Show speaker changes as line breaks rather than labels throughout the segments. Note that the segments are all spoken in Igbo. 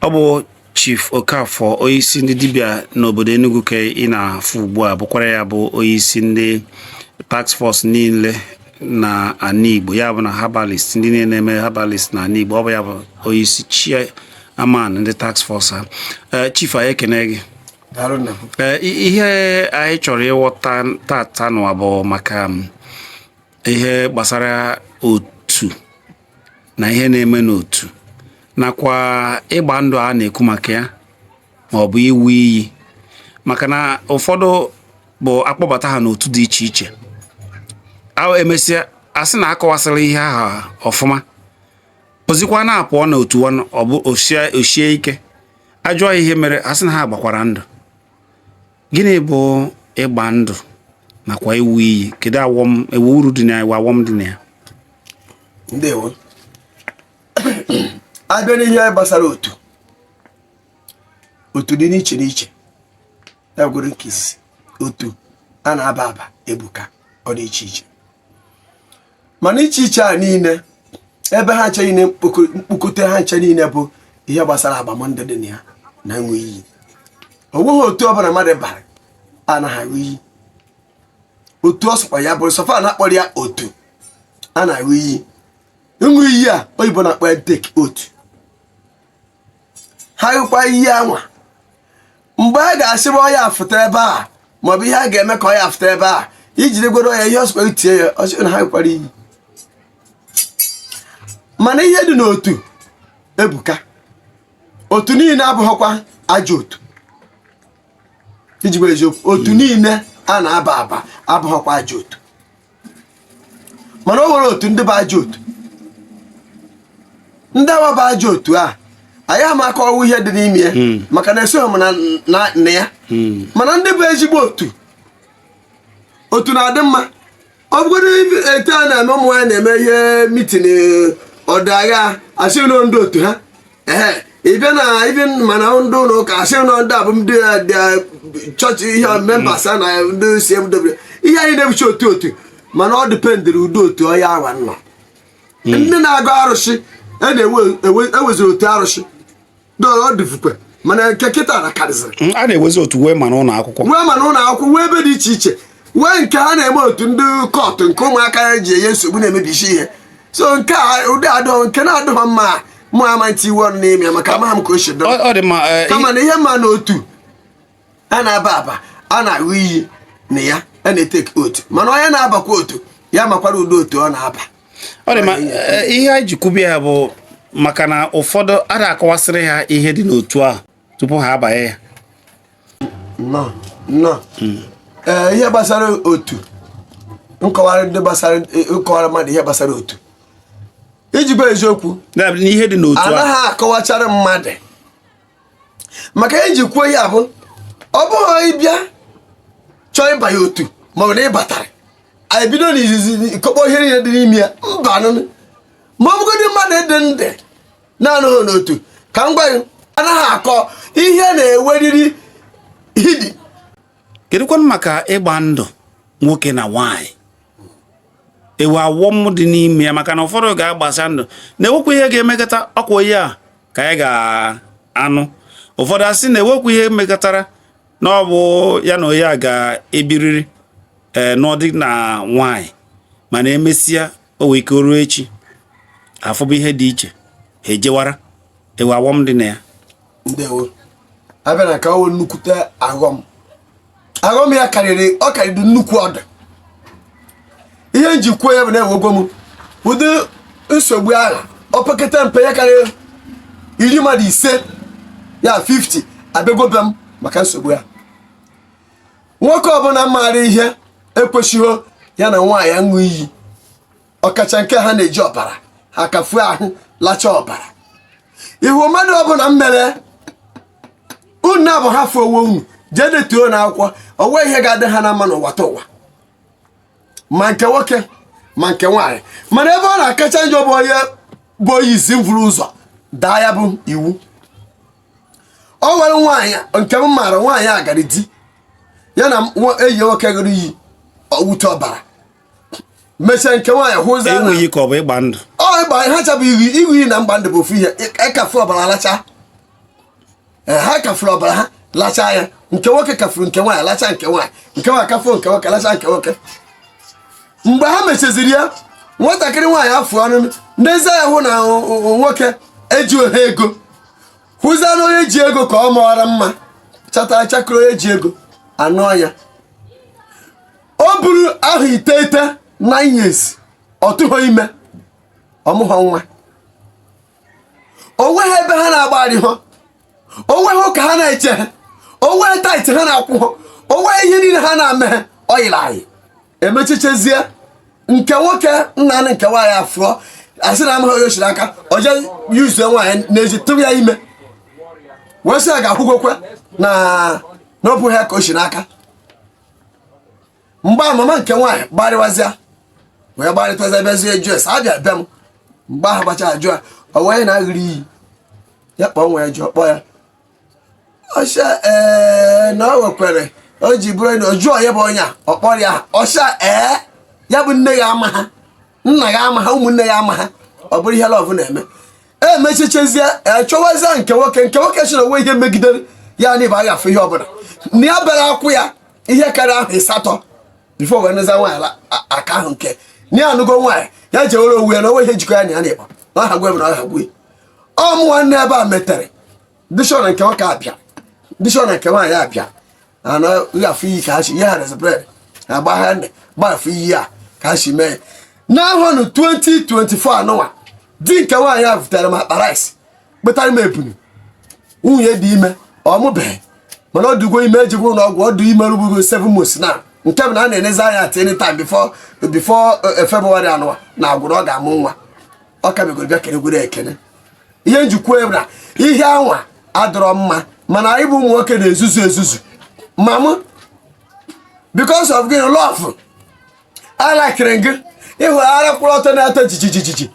ọ bụ chief okafọ onyeisi ndị dibịa n'obodo enugu ka ị na-afụ ugbu a bụkwara ya bụ onyeisi ndị task force niile na ana igbo ya bụ na herbalist ndị niile na-eme herbalist na ana igbo ọ bụ ya bụ onyeisi chairman ndị task force ha eh, chief anyị ekene gị eh, ihe anyị chọrọ ịghọta tata nụwa bụ maka mm, ihe gbasara otu na ihe na-eme n'otu nakwa ịgba ndụ a na-ekwu maka ya ma ọ bụ ịṅụ iyi maka na ụfọdụ bụ akpọbata ha n'otu dị iche iche emesịa a sị na akọwasịrị ihe aha ọfụma ozikwa na-apụọ na otu ọ bụ o shie ike ajụọ ihe mere a sị na ha gbakwara ndụ gịnị bụ ịgba ndụ nakwa ịṅụ iyi kedu wee uru dị na ya wee awọm dị na ya
ndewo a bịa n'ihe gbasara otu otu dị n'iche n'iche ya gwere nke isi otu a na-aba aba ebuka ọ dị iche iche mana iche iche a niile ebe ha ncha niile mkpokọta ha ncha niile bụ ihe gbasara agbamndụ dị na ya na ịṅụ iyi o nweghị otu ọbụla mmadụ bara anaghị aṅụ iyi otu ọ sọkwa ya bụrụ so far a na-akpọrọ ya otu a na-aṅụ iyi ịṅụ iyi a oyibo na-akpọ ya take oath ha ṅụkwa iyi anwa mgbe a ga-asịba ọya afụta ebe a maọbụ ihe a ga-eme ka ọya afụta ebe a ijiri gwere ọya ihe ọ sọkwa i tie ya ọ sị na ha ṅụkwara iyi mana ihe dị n'otu ebuka otu niile abụghịkwa ajọ otu iji gwa eziokwu otu niile a na-aba aba abụghịkwa ajọ otu mana o nwere otu ndị bụ ajọ otu ndị awa bụ ajọ otu a anyị ama akọwa ihe dị n'ime ya hmm. maka na esoghị m na ya hmm. mana ndị bụ ezigbo otu otu na-adị mma ọ bụgodị etu a na-eme ụmụ nwaanyị na-eme ihe meeting ọdagha asị na ọ ndị otu ha ee ịbịa na ibi mana ndị ụlọ ụka asị na ndị abụ ndị chọọchị ihe members a na ndị cmw ihe a niile bụcha otu otu mana ọ dependịrị ụdị otu onye awa nọ hmm. ndị na-agọ arụsị a e na-eweziri e otu arụsị ọ dịfukwe mana nke kịta na karịzịrị hmm, a na-ewezi otu wee ma
n'ụlọ akwụkwọ wee ma n'ụlọ akwụkwọ wee ebe dị iche iche
wee nke ha na-eme otu ndị cult nke ụmụaka ya ji enye nsogbu na-emebisi ihe so nke a ụdị adọ nke na-adọghọ mma mụ ama ntinye ọnụ n'ime ya maka amaghị m ka o si dọrọ Ọ- ọ dị mma eh, kama na ihe m ma na otu a na-aba aba a na-aṅụ iyi na ya a na-eteke otu mana onye na-abakwa otu ya makwara ụdị otu ọ na-aba ọ dị mma
eh, ihe anyị ji kwubie ya bụ maka na ụfọdụ a na-akọwasịrị ha ihe dị n'otu ahụ tupu ha abanye ya nnọọ
nnọọ hmm. eh, ihe gbasara otu nkọwara mmadụ ihe gbasara otu iji bụ eziokwu n'ihe dị n'otu
anaghị akọwachara
mmadụ maka iji kwuo ya bụ ọ bụghị ị bịa chọọ ịbanye otu maọbụ na ị batara anyị bido n'izizi kọkpọ ihe niile dị n'ime ya mba nụnụ ma ọ bụgodị mmadụ dị ndị na-anọghị n'otu ka m gwa gị anaghị akọ ihe na-eweriri
hidi kedụkwanụ maka ịgba ndụ nwoke na nwaanyị enwe aghọm dị n'ime ya maka na ụfọdụ ga-agbasị ndụ na enwekwa ihe ga-emekata ọkwa onye a ka ya ga-anụ ụfọdụ asị na enwekwa ihe mekatara na ọ bụ ya na onye a ga-ebiriri ee eh, nụọ di na nwaanyị mana emesịa o nwere ike ruo echi a fụba ihe dị iche ha ejewara enwe aghọm dị na ya ndewo
a bịa na ka o nwee nnukwute aghọm aghọm ya karịrị ọ karịrị nnukwu ọdụ ihe m ji kwuo ya bụ na enwego m ụdị nsogbu ahụ opekata mpe ya karịa iri mmadụ ise ya 50 abịagobe m maka nsogbu ya nwoke ọbụla maara ihe ekwesịghị ya na nwaanyị aṅụ iyi ọkacha nke ha na-eji ọbara ha kafuo ahụ lacha ọbara ị hụ mmadụ ọbụla mere unu abụọ hafụ onwe unu jee detuo n'akwụkwọ o nwe ihe ga-adị ha na mma n'ụwa ta ụwa ma nke nwoke ma nke nwaanyị mana ebe ọ na-akacha njọ bụ onye bụ onye isi vuru ụzọ daa ya bụ iwu o nwere nwaanyị nke m maara nwaanyị agara di ya na enyi nwoke ṅụrụ iyi ọwụta ọbara mechaa nke nwaanyị hụzi enweghị ka ọ bụ ịgba ndụ
ọ ịgba
ha ncha bụ ịṅụ ịṅụ iyi na ịgba ndụ bụ ofu
ihe
ịkafu ọbara alacha ha kafuru ọbara ha lachaa ya nke nwoke kafuru nke nwaanyị lacha nke nwaanyị nke nwaanyị kafuo nke nwoke lacha nke nwoke mgbe ha mechaziri ya nwatakịrị nwaanyị afụ nezie anya hụ na nwoke ejiho ego hụzia na onye ji ego ka ọ maara mma chata chakịrị onye ji ego anụọ ya o buru ahọ iteghete nine years ọ tụghọ ime ọ mụghọ nwa o nweghị ebe ha na-agbagharịghị o nweghị ụka ha na-ejeghị o nweghị tithe ha na-akwụghị o nweghị ihe niile ha na-emeghị o yiri anyị emechichezie nke nwoke nna nke nwaanyị afụọ a sị na amaghị onye o si n'aka o je yuzuo nwaanyị na-eji tụrụ ya ime wee sị ya ga-akwụgokwe na ọ bụ ha ka o si n'aka mgbe a mama nke nwaanyị gbarịwazịa wee gbarịtazi bịazie jụọ esi abịa be m mgbe ahụ gbachara jụọ o wee na-aghịrị iyi ya kpọọ nwa ya jụọ kpọọ ya ọsha ee eh, na o wekwere o ji bụrụ na oju onye bụ onye a ọ kpọrọ ya ọsha ee eh, ya bụ nne ya amaghị nna ya amaghị ụmụnne ya amaghị ọ bụrụ ihe love na-eme emechichezie echọwazie eh, nke nwoke nke nwoke sị na o nweghị ihe megidere ya na ịba aghafe ihe ọbụla na ya bịara akwụ ya ihe karịa ahọ ịsatọ before wee nụza nwaanyị aka ahụ nke na ya anụgo nwaanyị ya jewere onwe ya na o nweghị ihe jikọ ya na ya na ịba na ọ hagwe m na ọ hagwe ọmụ nwanne ebe e metere ndị si na nke nwoke abịa ndị si na nke nwaanyị abịa ana afọ iyi ka ha si ihe ha resi bred agba ha nne gba afọ iyi a ka ha si mee n'ahọ nụ 2024 anụnwa di nke nwaanyị a butere m akpa rice kpụtara m ebunu nwunye dị ime ọ mụbeghị mana ọ dịgo ime ejikwa ụlọ ọgwụ ọ dị ime rugbugo 7 months na nke bụ na a na-enezi anya at any time before before eh, February anụwa na agwụrụ ọ ga-amụ nwa ọ ka bịagoro bịa kelegwere ekene ihe m ji ekwu ya bụ na ihe anwa adịrọ mma mana anyị bụ ụmụ nwoke na-ezuzu ezuzu ma mụ because of gị love alakịrị gị ị hụ ara kwụrụ ọtọ na-atọ jijijijiji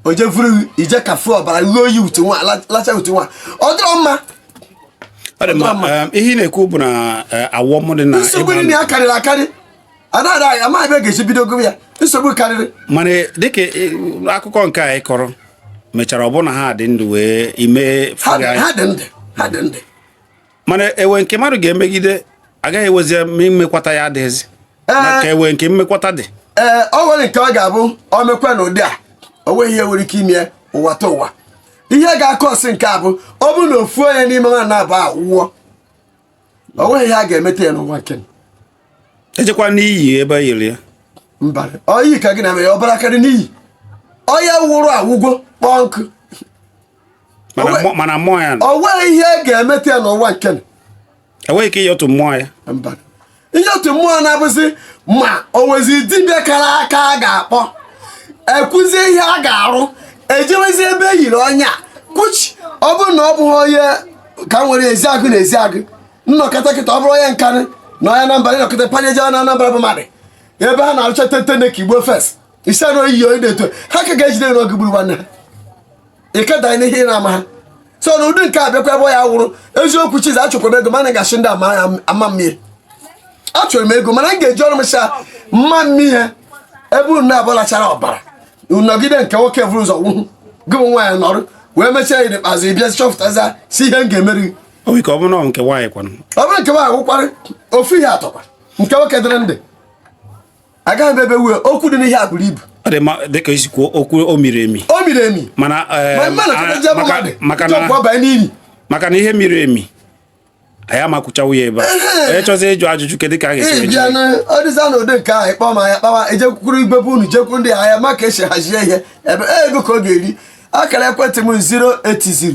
o jefuru ije kafu ọbara ghe oyi utu nwa la- lacha utu nwa ọ dịrọ mma Ọ dị mma, um,
ihe ị na-ekwu bụ na eh, awọm dị na nsogbu ịgba dị na ya karịrị
akarị anaghị ama ebe a ga-esi bido gụwa ya nsogbu karịrị mana
dịka e, akụkọ nke a ị kọrọ mechara ọ bụ na ha dị ndụ wee mee ha dị ndụ
ha dị ndụ mana
e nwee nke mmadụ ga-emegide agaghị enwezi mmekwata ya adịghịzi maka e nwee nke mmekwata dị ee o nwere
nke ọ ga-abụ o mekwa n'ụdị a o nweghị ihe e nwere ike ime ụwa ta ụwa ihe ga-akwụsị nke a bụ ọ bụrụ na ofu onye n'ime wa naabọ anwụọ o nweghị ihe a ga-emeta ya n'ụwa nke
ejekwa n'iyi ebe e yiri ya mba
oyi ka gị na mere ọbara karị n'iyi onye nwụrụ anwụgo kpọọ nkụ mana
mmụọ ya o nweghị ihe e ga-emeta
ya n'ụwa nke enweghị ike
ịyọtụ mmụọ ya
ịyọtụ mmụọ na-abụzi ma o nwezi dibịa kara aka a ga-akpọ ekwuzie ihe a ga-arụ ejewezie ebe e yiri ọnya kuchi ọ bụrụ na ọ bụghị onye ka nwere Ezeagu na Ezeagu nọkọta kịta ọ bụrụ onye Nkanu na onye Anambra ị nọkọta panye jewa na Anambra bụ mmadụ ebe ha na-arụcha tete na ka igbo fes isi anụ oyi oyi na-eto ha ka ga-ejide onye gburu nwanne ha ịkeda n'ihe ị na-ama ha so na ụdị nke a bịakwa ebe ya wụrụ eziokwu chizi achọkwara m ego mana gasị ndị ama mmiri achọrọ m ego mana m ga-eji ọrụ m cha mma mmiri ebe unu na-abụlachara ọbara nọgide nke nwoke vụrụ ụzọ nwụhụ gị bụ nwaanyị nọrụ wee mechaa ya n'ikpeazụ ị bịa chọpụtaza sị ihe m ga-emeri o nwere ike ọ bụrụ na ọ
nke nwaanyị kwanụ ọ bụrụ nke nwaanyị
wụkwara ofu ihe atọkwa nke nwoke dịrị ndị agaghị m ebe wue okwu dị n'ihe a buru ibu ọ dị mma dịka i
si kwuo okwu o miri emi o miri emi mana Ma eh, mmadụ ka ndị maka- mmadụ maka ndị ọgwụ na ọbanye n'ili maka na ihe miri emi anyị ama kwuchawo ya ebe a onye chọzi ịjụ ajụjụ kedu ka a ga-esi ị wee bịa jụọ? na ọ
dịza na ụdị nke ahụ ị kpọọ m anyị akpawa ejekwukwuru igbe bụ unu jekwu ndị ahịa ma ka e si hazie ihe ebe e, ego ka ọ ga-eri akara ekwentị m 080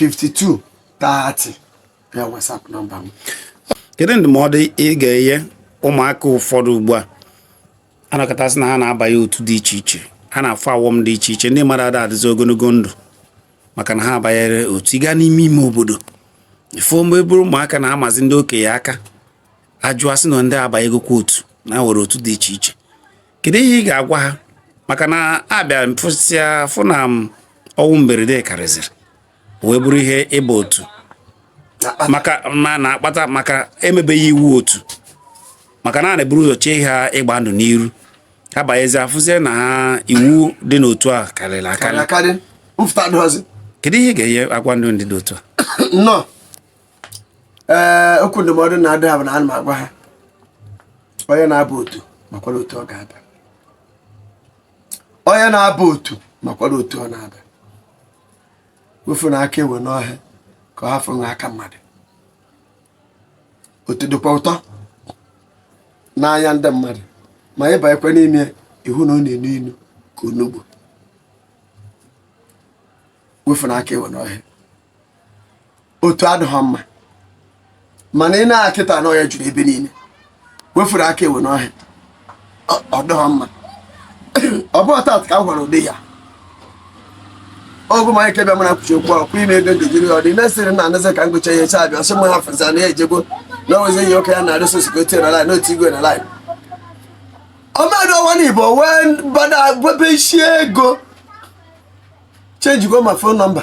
52 30 ya WhatsApp nọmba m kedu
ndụmọdụ ị ga-enye ụmụaka ụfọdụ ugbu a a nụkata sị na ha na-abanye otu dị iche iche ha na-afụ awọm dị iche iche ndị mmadụ ada adịzi ogologo ndụ maka na ha abanyere otu ị gaa n'ime ime obodo ị fụ ụmụ obere ụmụaka na-amazi ndị okenye aka a jụa sị na ndị abanyegokwa otu na e nwere otu dị iche iche kedu ihe ị ga-agwa ha maka na a bịa mfụsịa fụ na ọnwụ mberede karịzịrị wee bụrụ ihe ịba otu na-akpata maka emebeghị iwu otu maka na a na-eburu ụzọ chee ha ịgba ndụ n'iru ha banyezi afụzie na ha iwu dị n'otu a karịrị akarị kedu ihe ị ga-enye agwa ndị dị otu a
ee okwu ndụmọdụ na-adụ ha bụ na ana m agwa ha onye na-aba otu makwara otu ọ ga-aba onye na-aba otu makwara otu ọ na-aba wefunụ aka enwe n'ohe ka ọ hafụ ịghọ aka mmadụ otu dịkwa ụtọ n'anya ndị mmadụ ma ị banyekwa n'ime ị hụ na ọ na-enu inu ka onugbu wefunụ aka enwe n'ohe otu adịghị mma mana ị na kịta na ọ ya juru ebe niile wefuru aka ewe n'ohe ọ dịghị mma ọ bụ ọtat ka m gwara ụdị ya ọgwụ manya kebe mara kwuchi okwu ọkwa ime ego ndejiri ya ọ dị mesịrị na anazi ka m gụcha ihe chaa bịa sị m ha fụza na ya ejego na o nwezi ihe oke ya na arịsị osiko tie na lain n'otu igwe na lain ọ mmadụ ọwa na igbo wee bada gwebe isi ego chenjigo ma fon nọmba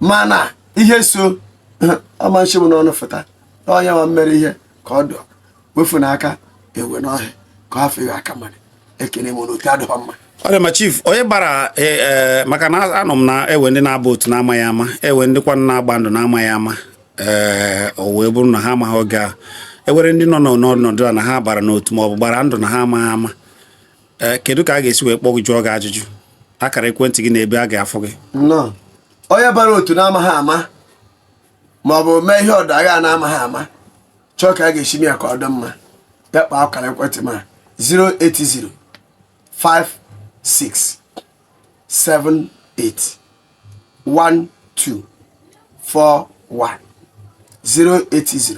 mana ihe so ọmanchi m n'ọnụ fụta onye nwa mmere ihe ka ọ dụ wefunụ aka ewe n'ohe ka ọ fịghị aka mmadụ ekene m n'otu adịghị mma ọ dị mma chief
onye bara e, e, maka na anụ m na e nwe ndị na-aba otu na-amaghị ama e nwe ndị kwa na-agba ndụ na-amaghị ama ee o wee bụrụ na ha amaghị oge e nwere ndị nọ n'ọnọdụ a na ha bara n'otu ma ọ bụ gbara ndụ na ha amaghị ama ee eh, kedu ka a ga-esi wee kpọ gị jụọ gị ajụjụ akara ekwentị gị na ebe a ga-afụ gị
nnọọ onye bara otu na-amaghị ama ma ọ bụ mee ihe ọ dụ aghaa na-amaghị ama chọọ ka a ga-esi mee ya ka ọ dị mma ya kpaa akara ekwentị m a 080 56 78 12 41 080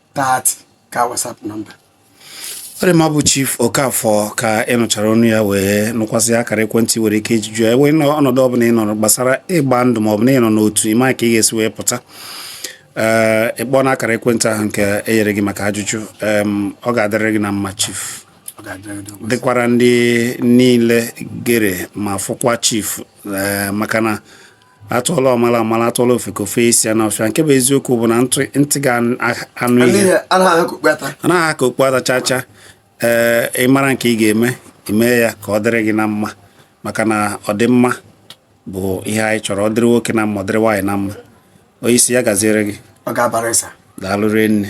30 ka WhatsApp
nọmba ọ dị mma ọ bụ chief Okafor ka ị nụchara ọnụ ya wee nụkwasị akara ekwentị i nwere ike iji jụọ ya ọnọdụ ọbụla ị nọrọ gbasara ịgba ndụ ma ọ bụ na ị nọ n'otu ị maghị ka ị ga-esi wee pụta ee ị kpọọ na akara ekwentị ahụ nke e nyere gị maka ajụjụ ọ ga-adịrị gị na mma chief dịkwara ndị niile gere ma fụkwa chief maka na atụọla ọmala ọ mala atụọla ofeke o fe isi ya n'ọfịa nke bụ eziokwu bụ na ntị ga-anụ ihe anaghị aha ka okpu ata chacha ee eh, ị mara nke ị ga-eme i mee ya ka ọ dịrị gị na mma maka na ọdịmma bụ ihe anyị chọrọ ọ dịrị nwoke na mma ọ dịrị nwaanyị na mma
onye
isi ya gaziere gị daalụ rie nne